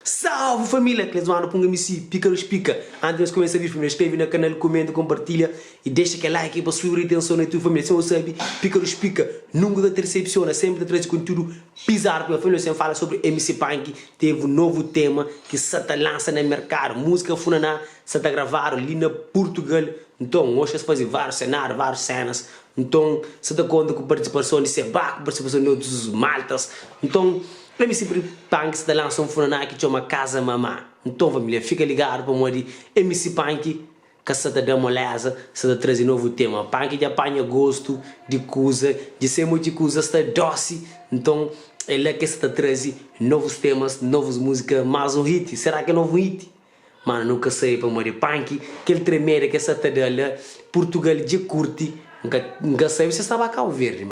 Salve família, Cleison Ana Punga MC, pica nos pica. Antes nos começa vídeo, primeiro inscreve na canal, comenta, compartilha e deixa aquele like pa subi retenção na tudo família. Sem o sabe, pica nos pica, nunca ta decepciona, sempre ta trazer conteúdo bizarro para família. Sem fala sobre MC Punk, teve um novo tema que sa ta lança na mercado, música Funaná sa ta gravado ali na Portugal. Então, hoje es fazer vários cenários, vários cenas, Nton, sa ta konta ku partisipason di Sebá, ku partisipason di otus maltas. Nton, MC Pri Panki sa ta lansa un funaná ki txoma Kaza Mamá. Nton, família, fika ligadu pamodi MC Panki ka sa ta da moléza, sa ta traze novu tema. Panki dja panha gostu di kuza, dja sai modi ki kuza sta dósi. Nton, é la ki es sa ta traze novus temas, novus múzika, más un hiti. Será ki é novu un hiti? Mana nu ka sabe pamodi é punk kel tremeda ki es sa ta da la Purtugal dje kurti N ka sabe si es ta ba Cabo Verde ma.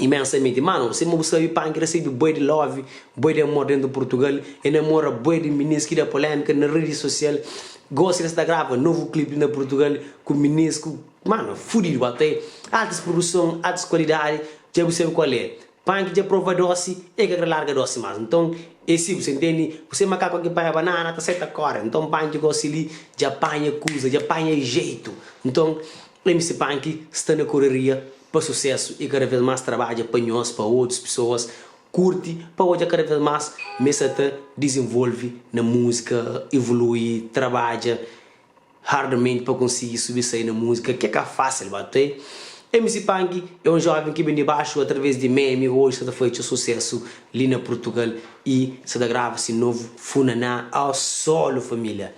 imensamenti mano sima bu sabi panki resebe bué di love bué di amor dentu purtugal e namora bué di minins ki da polemika na redi sosial gosi el sta grava novu clip na purtugal ku minins ku mano fudidu ba ta altis produson altis kualidadi dja bu sabi kual é panki dja prova dosi e ka kre larga dosi mas nton e si bu sa intendi bu se makaku ki panha banana ta sai ta kore nton panki gosi li dja panha kuza dja panha jeitu nton. MC Punk sta na koreria pa susesu e kada vez más trabadja pa nhos pa otus pesoas kurti pa odja kada vez más m'es sa ta dizenvolve na múzika, ivului, trabadja hardamenti pa konsigi subi sai na múzika ke ka fasil ba tê. MC Punk é un joven ki ben di baxu através di meme oji sa ta faze txeu susesu li na Purtugal e sa ta grava si novu Funaná ao solo família.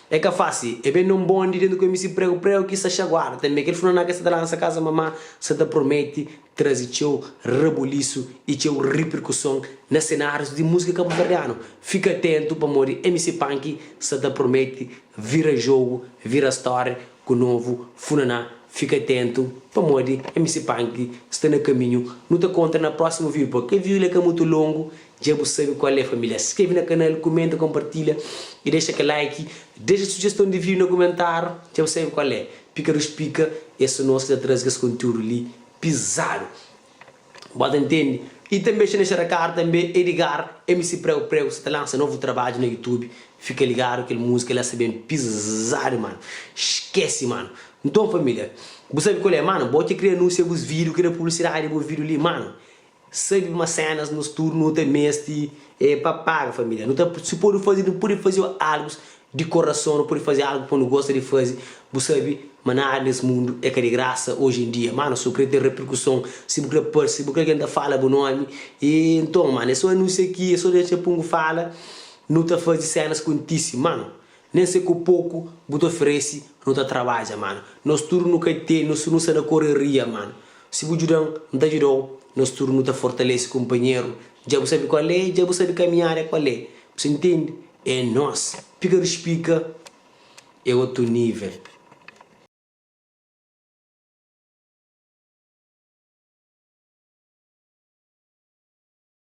É ka fási. É ben na un bóndi dentu ku msn pregu-pregu ki sa xaguadu tanbe. Kel fnanaka ki sa ta lansa kaza mamá sa ta promete traze txeu rabulisu i txeu riperkuson na senárius di múzika kabuverdianu. Fika atentu pamodi MC Panky sa ta promete vira jogu, vira stória ku novu funaná. Fika atentu pamodi MC Panky sta na kaminhu. Nu ta kontra na prósimu víu. Pua kel víu li é ka mutu longu. Dja bu sabe kual é familia? Skrebe na kanal, kumenta, konpartilha y dexa kel like. Dexa sujeston di video na kumentáriu, dja bu sabe kual é? Pikadu Spika é so nos ki ta traze kes kontiúdu li pizadu. Bo ta ntende? Y tanbe xa na xa ta kar tanbe Edgar MC Pregu Pregu sa ta lansa novu trabadju na YouTube. Fika ligadu kel múzika la sa ben pizadu manu. Skese manu. Nton familia, bu sabe kual é manu? Bo ki kre anunsia bus video, kre publisidadi di bu video li manu. Sabe ma senas nos tudu nu ta mesti e pa paga familia nu ta si pode faze nu pode faze algus di korason nu pode faze algu pa nu gosta di faze bu sabe ma nada nes mundu e ka di grasa oji en dia mano so kre ten reperkuson si bu kre parse si bu kre algen ta fala bu nomi e nton mano e so anunsia ki e so dexa pungu fala nu ta faze senas kontise mano Nen se ku poku bu ta oferesi nu ta trabadja mano nos tudu nu ka ten nos nu sta na koreria mano si bu djudan n ta djudau nos tudu nu ta fortalesi kunpanheru dja bu sabi kual é dja bu sabi kamiada é kual é bu sta intendi é nos pika di spika é otu nivel.